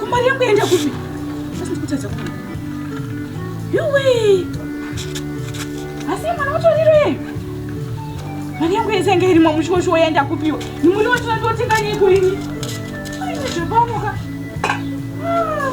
Kumari yangu yaenda kupi? Sasa ndikutadza kuona. Yuwe. Asi mwana utoriro yeye. Mari yangu yese yanga irimo mushosho yaenda kupiwa. Ni muri watu ndotenga nyiko ini. Ai, zvapamuka. Ah.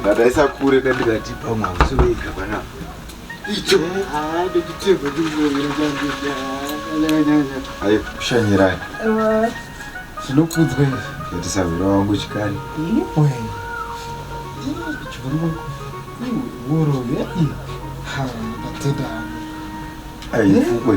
ndataisa kure ndandikati pamwe hausi wega panapa icho ndochitebva ayo kushanyirana zvinokudzwa izvi yatisahwira wangu chikani urove ndatenda aifukwe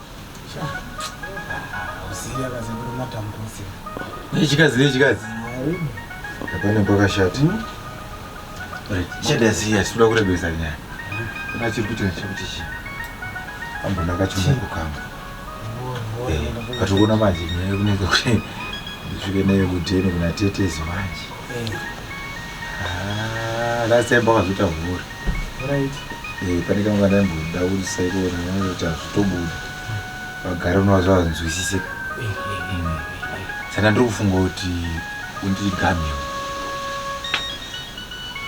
nechikadzi nechikadzi hapana pakashata chada siya sikuda kurebesa nyaya kuna chiri kuita chekuti chi ambona kachimoko kangu katokuona manje nyaya yekunenge kuti ndisvike nayo kudheni kuna tetezi manje last time pakazoita vhuri right eh pane kamwe kandaimboda kuti saikona kuti hazvitobuda vagara unova zvavanzwisise saka ndiri kufunga kuti undigameo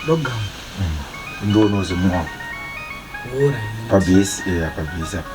ndogam mm. ndionoze muwako pabhesi eya eh, pabhesi apa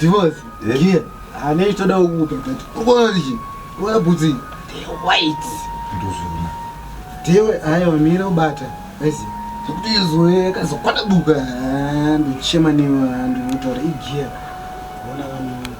Divorce. Eh? Yeah. Ane itoda kukupa but ukoona chini? Ukoona bhutsi. They white. Ndozvona. Dewe ayo mira ubata. Basi. Kuti izwe kazokwana buka ndochema newe ndotora igiya. Ona vanhu.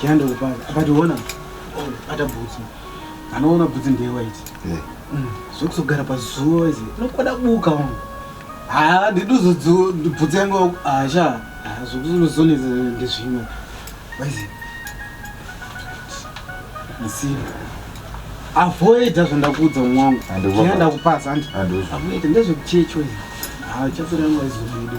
Kianda kupana akationa ata bhutsu anoona bhutsu ndewa ichi eh. mm. zvekuzogara pazuva ichi unokwada buka wangu haa ndiduzobhutsu yangu asha zvekuzonetsa ndezvimwe waizi msiba avoida zvandakuudza mwangu kianda kupasa andi avoida ndezvekuchecho ichi haa chapera yangu aizobuda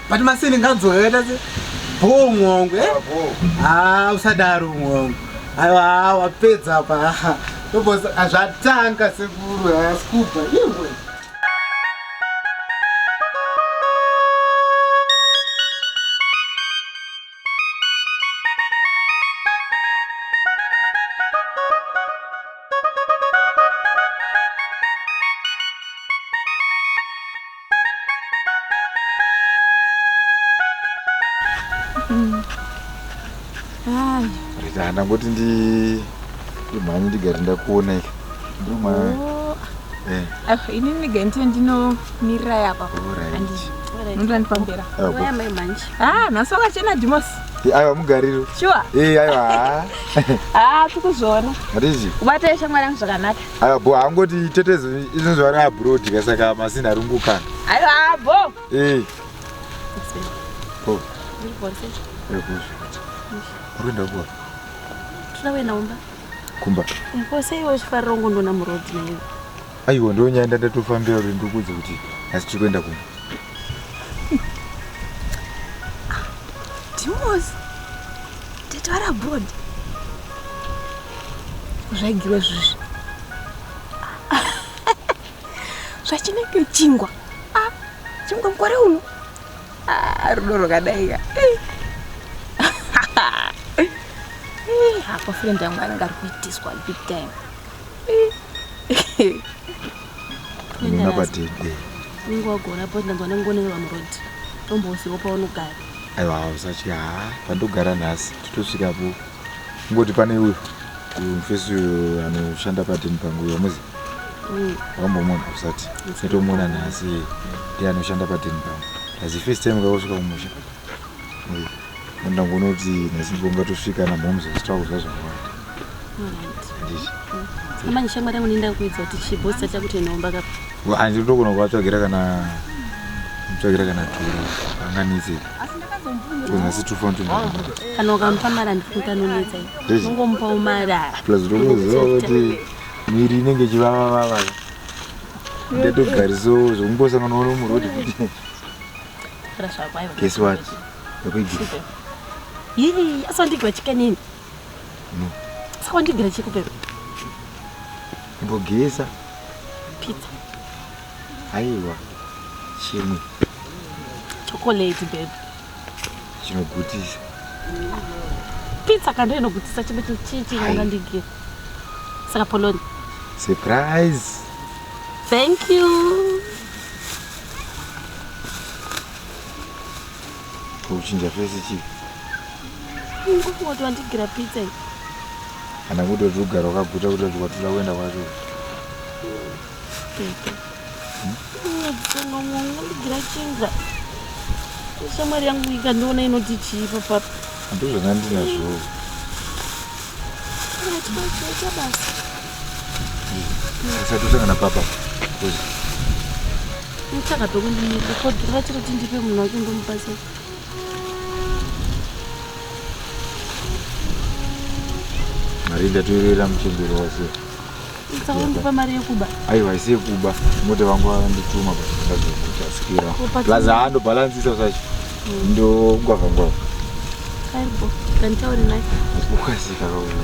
but masini nganzwa yakaita se bhoo umwe wangu e haa usadaro umwe wangu aiwa haa wapedza apa haa ndobosa azvatanga sekuru haa skupa iwe Rita, ndangoti ndi ndimhanye ndigare ndakuona ika ndoma oh. eh. ah, ini ndigare ndine ndinomirira yapa ndoda ndipambera ah, nhasi wakachena dimosi eh, aiwa mugariro shuwa eh, aiwa ah. tikuzviona hatizi kubatira shamwari yangu zvakanaka Aya bho haangoti tetezo izvozvo ari abroad ka saka masini ari kungokana. Aiwa bho. Eh. Bho. Uri bho sei? Uri bho. Uri kuenda kuwa. Tuna wena umba. Kumba. Bho sei wo chifariro ngo ndona mu road na iwe. Aiwa ndonyaenda ndatofambira uri ndikudze kuti asi tiri kuenda kumba. Dimos, tete vari abroad. Zvaigirwe zvizvi. Zvachinenge chingwa. Ah, chingwa mukore uno. Ah, rudo rwakadai ka. Eh, apa friend yangu anenge ari kuitiswa big time. Eh. Nina patin. Ningo agora po ndango nango nene vamurodi. Tombo usiwo pa unogara. Aiwa hausachi ha pandogara nhasi totosvika po. Ngoti pane uyu mfesi uyu anoshanda patin pangu uyo muzi. Mm. Wambomona usati. Setomona nhasi ndiye anoshanda patin pangu. As the first time kausvika kumusha. Mm. ndangonoti nechimbo ngatosvika namhoms zvichitakuza zvakawanda amanye shamwari yangu nenda kuidza kuti chibho sati chakuti nomba kapa handiri togona kuvatsvagira kana mutsvagira kana turu anganitse kunasi tufantukana ukamupa mari andifuta anonetsa ungomupawo mari plus ndokuziva kuti miri inenge ichivavavava ndatogariso zvokungosanganawo nomurodi kuti Guess what? Yii, asandigwa chikanini. No. Saka wandigwira chekupepa. Mbogeza. Pizza. Aiwa. Chimwe. Chocolate babe. Chinogutisa. Pizza kando inogutisa chimwe chichi yanga ndigira. Saka poloni. Surprise. Thank you. kuchinja fesi chii ngotowandigira pizza iyi kana kuti wati ugara wakaguta kuti wati watoda kuenda kwacho ndigira chinga shamwari yangu ikandiona inoti chii papapa ndozvanga ndinazvoo usatosangana papa mutsaka pekundinyipa kodhiri vachiri kuti ndipe munhu wake ndomubatsira mari ndatoyerera muchembero wase ndsakundipa mari yekuba aiwa isi yekuba mota vangu vandituma paaazokuchasikira plus hando balansisa sacho mm. ndongwavangwava karibo kanditauri naye ukasika kauya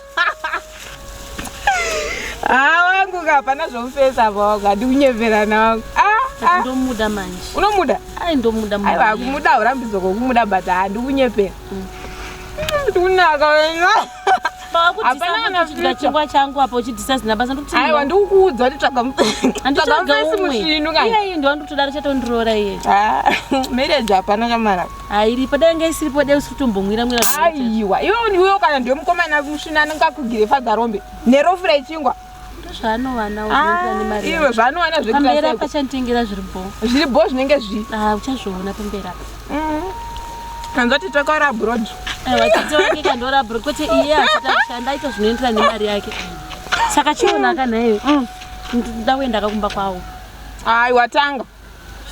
haa wangu ka hapana zvomufesa apa wangu handikunyeverana wangu ah, ah. ndomuda manje unomuda ai ndomuda aiwa kumuda urambidzo kokumuda but handikunyepera mm. ndikunaka wena chingwa changu apa uchidhisa zina basa ndikuaiwa ndikukuudza kuti tsvagatsvaga mufesi musvinu kaiyayi ndowandikutodaro chatondiroora iye ah, marriage hapana chamaraka airipo dai nga isiripo dai usiri kutombomwira mwira aiwa iwe ndiuyo kana ndiwe mukomana musvina anongakugire fadzarombe nerofura ichingwa zvaanowanaaiwe ah, zvaanowana zvepamberi apa chanditengera zviri bho zviri bho zvinenge zvi ah, uchazviona pamberi apa mm. kanzwa kuti takaora abroad aiwa tete wake kandoora abroad kwete iye achita kushanda aita zvinoenderana nemari yake saka chiona akanaiwe mm. ndakuenda akakumba kwawo aiwa tanga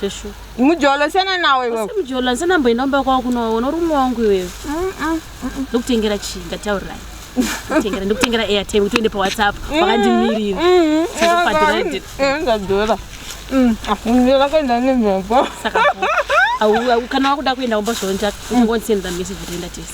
Sheshu. Mujolo sena nawe wewe. Mujolo sena nambo enda mba kwako kuno wono rume wangu wewe. Mm. mm. Ndokutengera chi ngataurai. Ndokutengera ndokutengera airtime kuti uende pa WhatsApp mm, wakandimirira. Mm. Saka padhura. Eh ndadhura. Mm. Afungira ah, kaenda nemba. Saka. Au au kana wakuda kuenda umba zvonja. Ungondisenza message kuti enda tese.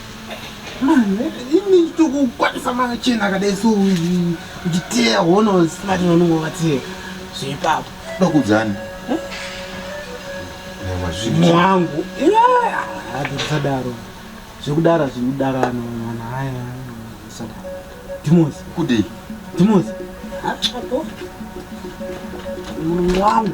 ini nditokukwanisa machena akadai so nditeya hono simati vanongo vateya zveipapo ndokudzani mwangu atisadaro zvekudara zvekudarano mwana haya sadaro dimos kudei dimos apo mwangu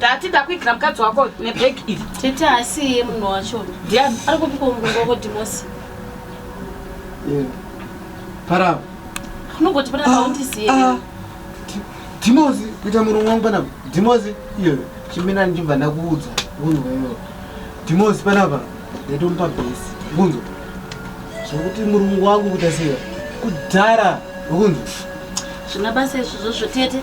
Tati ndakuigira mukadzi wako nebag iri. Tete asi iye munhu wacho. Ndiani? Ari kupika mugongo wako Dimosi. Yeah. Para. Unogoti para paundi siye. Ah, ah. Dimosi kuita murume wangu panapa. Dimosi iyo chimbina ndichibva ndakuudza. Unhu wewe. Dimosi panapa ndatomupa base. Unhu. Zvekuti murume wangu kuita sei? Kudhara. Unhu. Zvina basa izvozvo tete.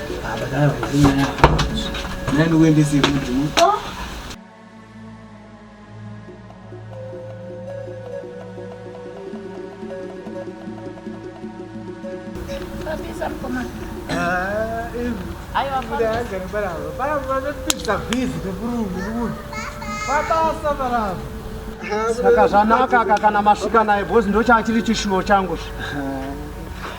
saka zvanaka aka kana masvika naye bhozi ndochaachiri chishuwo changu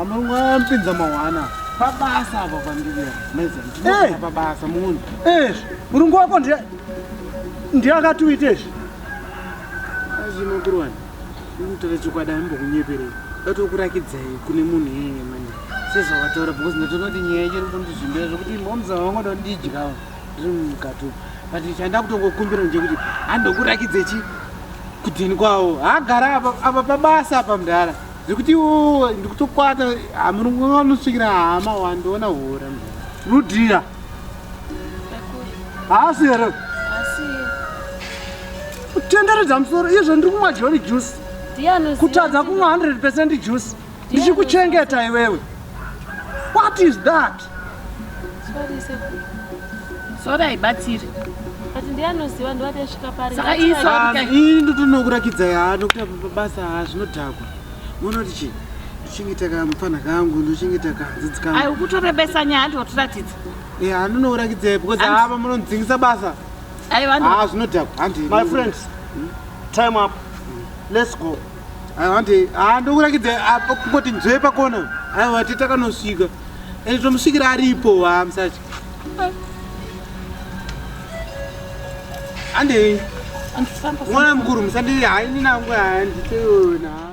Amamwa mpinza mawana pabasa apa pandiri maiza pabasa munhu eh murungu wako ndiye ndiye akatiwite izvi azvino kurwani ndinotaura chokwadi ambokunyeperei vatokurakidzai kune munhu iyeye mani sezvavataura because ndatoona kuti nyaya ichiri kundizvimbira zvekuti momza vangoda kundidyawo ndiri mukatu but chanda kutongokumbira nje kuti handokurakidzei chi kudini kwavo hagara apa pabasa apa mdhara Zvekuti iwo ndikutokwata hamurungu vanosvikira hama wandiona hura. Rudia. Haasi here? Haasi. Kutenderedza musoro izvo ndiri kumwa John juice. Kutadza kumwa 100% juice. Ndichikuchengeta iwewe. What is that? Sorry, sekuru. Sorry, haibatsiri. But ndiye anoziva ndovati asvika pari. Saka iyi sorry kai. Ini ndotonokurakidza yaa nokuti apa pabasa haa zvinodhakwa. Unoona kuti chii? Ndochengeta kamupfanha kangu, ndochengeta kanzidzi kangu. Ayi ukutorebesa nyaya handi watoratidza. Eh, handinokurakidza because Handi- haa pamunondidzingisa basa. Ayi vanhu. Haa zvinodhakwa. Handi. My friends, time up. Let's go. Ande ah ndokurakidza apo kungoti nzwe pakona. Ayo vati takanosvika. Ende tomusvikira aripo wa msachi. Ande mwana mukuru musandiri haini nangu handiteona.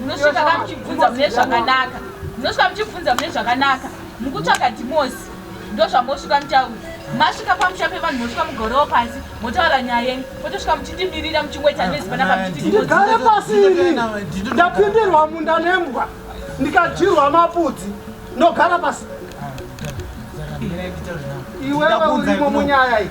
munosvika ka muchibvunza mune zvakanaka munosvika muchibvunza mune zvakanaka mukutsvaga dhimosi ndozvamosvika mutauri masvika pamusha pevanhu mosvika mugorewo pasi motaura nyaya yenyu potosvika muchindimirira muchingoita ah, nezi panapa mchitidigare pasini ndapindirwa munda nembwa ndikadyirwa mapudzi ndogara pasi iwewe urimo munyaya iyi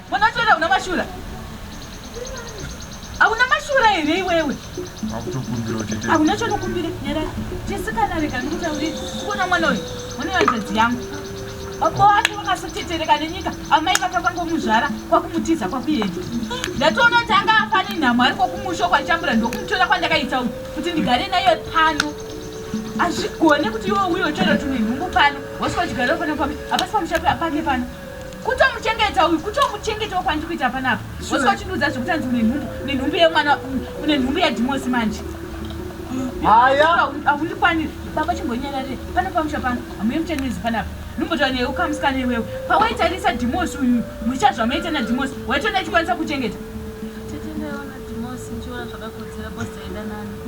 Mwana wacho hauna mashura. Hauna mashura here iwewe? Akutokumbira kuti tete. Hauna chonokumbira nyara. Chisikana rega ndikutaurire. Kuona mwana uyu. Mwana wanjadzi yangu. Apo ati vakasotetereka nenyika amai vakavangomuzvara kwakumutiza kwakuenda. Ndatoona kuti anga afa nenhamo ari kwakumusho kwachambura ndokumutora kwandakaita uyu kuti ndigare naye pano. Hazvigone kuti iwe uyo chero tune nhumbu pano. Wasvika uchigara pano pano. Hapasi pamusha pake pano. kutomuchengeta uyu kutomuchengetawo kwandiri kuita panapa osi wachindiudza zvekuti anzi une nhumbu une nhumbu yemwana une nhumbu yadhimosi manje haya akundikwaniri baba chimbonyarare pano pamusha pano hamuye muchanezi panapa nombotaura newe ukamusikana iwewe pawaitarisa dhimosi uyu mucha zvamaita nadhimosi waitona achikwanisa kuchengeta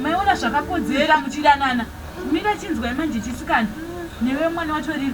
maiona zvakakodzera muchidanana mira chinzwai manje chisikana newe mwana watoriri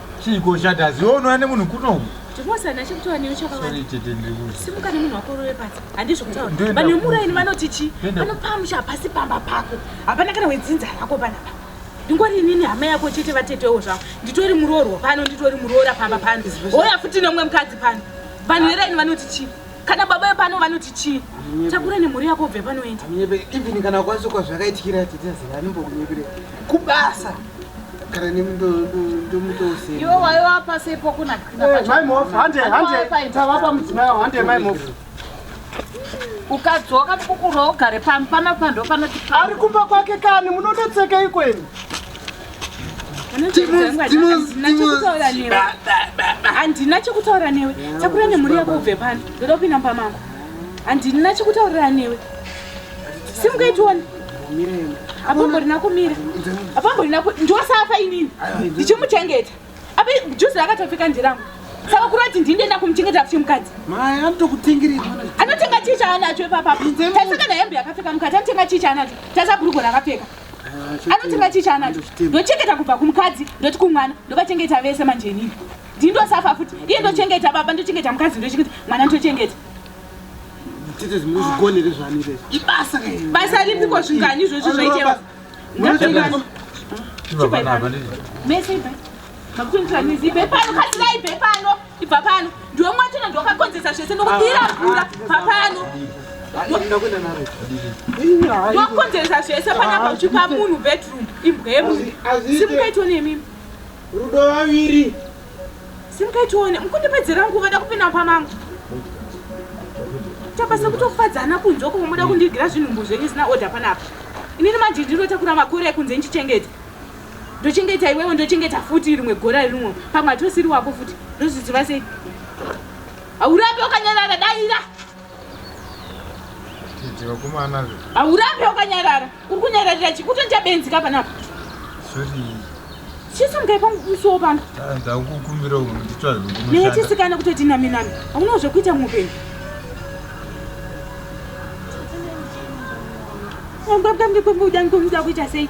Chiiko chati azionwa nemunhu kuno? Chikosana chekutaura newe chakawanda. Sorry tete ndiri kuzi. Simuka nemunhu wako rove pasi. Handizvo kutaura. Vanhu vemuraini vanoti chi? Vanopamusha pasi pamba pako. Hapana kana wedzinza rako panapa. Ndingori inini hama yako chete vatetewo zvavo. Nditori muroorwa pano, nditori muroora pamba pano. Hoya futi neumwe mukadzi pano. Vanhu veraini vanoti chi? kana baba vepano vanoti chii takura nemhuri yako ubve panoenda even kana ukwanisa kwa zvakaitikira titaziva anombokunyepere kubasa kana nemndomutousiyaiwaiwapasepokunaaimaiofhandetava pamudzimai hande maimof ukadzoka kukuro ugare pano pano pando panoti ari kumba kwake kani munonetseka ikweni handina chekutaura newe takura nemhuri yako ubve pano ndoda kupinda mumba mangu handina chekutaurira newe simukaitiona apamborina kumira apamborina ndiwasafa inini ndichimuchengeta apa juzi rakatopfika ndirangu saka kuri vati ndini ndoenda kumuchengeta kuti mukadzi anotenga chii chaanacho ipapapa taisaka nehembe yakapfeka mukadzi anotenga chii chaanacho taisa bhurugo rakapfeka Ah, anoti ngati chaanacho ndochengeta kubva kumukadzi ndoti kumwana ndovachengeta vese manje inini ndindosafa futi iye ndochengeta baba ndochengeta mukadzi ndochengeta mwana ndochengeta basa ripiko zvingani izvozvo zvaiteva mese Hakuitwa mizi ibve pano kasirai ibve pano ibva pano ndiwe mwatona ndiwakakonzesa zvese ndokudira mvura bva pano wakonzesa zvese panapa uchipa munhu bedroom imbwemu simukaitwa nemimi rudo vaviri simukaitione mukundipedzera nguva da kupinda pamangu tapasa kutofadzana kunzoko muda kundigira zvinhumbu zvenyu zina order panapa inini manje ndinotakura makore ekunze ndichichengeta ndochengeta iwewe ndochengeta futi rimwe gora rinwo pamwe hatosiri wako futi ndozviziva sei haurape ukanyarara daira haurape ukanyarara uri kunyararira chi kutoita benzi ka panapa chisamgai pamukusiwo pano neye chisikana kutoti nami nami haunawo zvekuita muupenyu angabwange kwembuda ngikomida kuita sei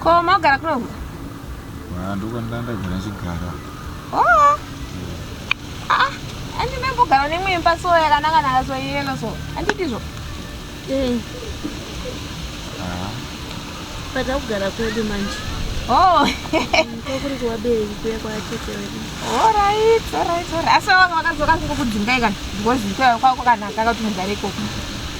Ko maugara kuno? Ah, ndiko ndandagara ndichigara. Oh. Ah, andi mambogara nemwe imba so yakanaka naka so yelo so. Andidizvo. Eh. Ah. Pada kugara kwedu manje. Oh. Ko kuri kwa bei kuya kwa tete wedu. All right, all right, all right. Asa wakadzoka kudzinga ikani. Ngozi kwa kwa kanaka kuti mugare ikoko.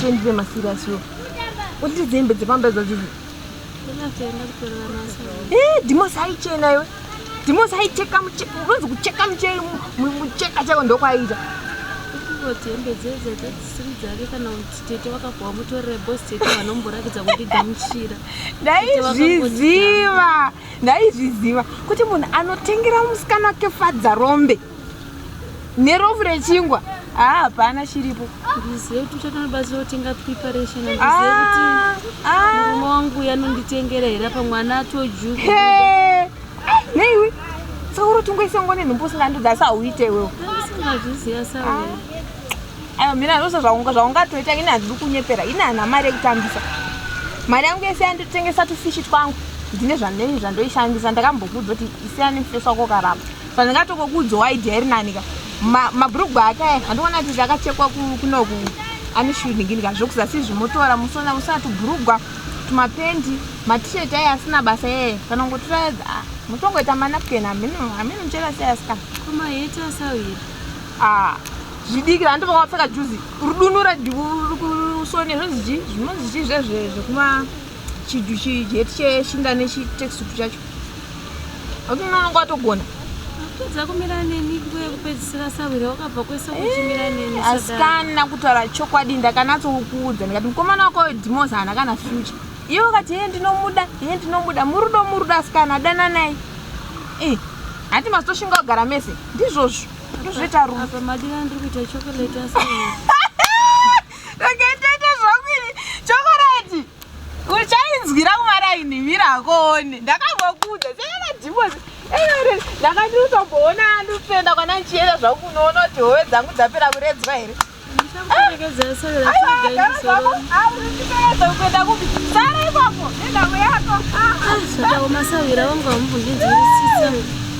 Shendize masiriasi yo. Kuti dzembe dzepamba idzo dzidzi. Eh, Dimosi haichena iwe. Dimosi haicheka mucheka. Unonzi kucheka mucheka mucheka chako ndokwaiita. Kuti hembe dzedze dzadzisiri dzake kana kuti tete wakabhowa mutorere boss tete vanomboratidza kuti gamuchira. Ndaizviziva. Ndaizviziva kuti munhu anotengera musikana wake fadza rombe. nerofu rechingwa haa ah, hapana chiripo ndizive kuti uchatonibatsira kutenga preparation andizive ah, kuti ah. murume wangu yanonditengera here apa mwana atoju neiwe sauro tingoisa ngone nhumbu usingandodza asi hauite iwewe usingazviziva sauro ayo mhina zvose zvaungatoita ini handidi kunyepera ini hana mari yekutambisa mari yangu yese yanditengesa tufishi twangu ndine zvanei zvandoishandisa ndakambokuudza kuti isiyani mfeso wako karamba Pandingatokokuudzwa idea iri nani ka. Ma, mabrugwa ake aya andikuona kuti akachekwa kunoku ane shooting ka zvokuzasi izvi motora musona musona tubrugwa tumapendi matishet aya asina basa yeye kana kungotora ah, motongoita manapken hamini hamini muchera sei asika koma yeti asawira ah zvidiki vantu vakapfeka juzi rudunura kusone zvinonzi chii zvinonzi chii zvezve zvekuma chiheti cheshinda nechitexup chacho akuti unoonanga watogona kutadza kumira neni nguva yekupedzisira sahwira wakabva kwese kuchimira eh, neni asikana kutaura chokwadi ndakanatsokuudza ndikati mukomana wako dimosa hana kana future iye wakati hee ndinomuda hee ndinomuda murudo murudo asikana adana naye eh, hati masitoshinga kugara mese ndizvozvo ndozvoita rumadira ndiri kuita chocolate ndakatoita zvangu ini chokorati uchainzwira kumaraini mira akoone ndakangokuudza seakadhimozi eere ndakati utomboona andifenda kwana ndichienda zvangu kunoona kuti hove dzangu dzapera kuredzwa here kuenda kupi sara ipapo nenhamo yako ah, ah, ah. masawira wangu amubvundidzirisisamu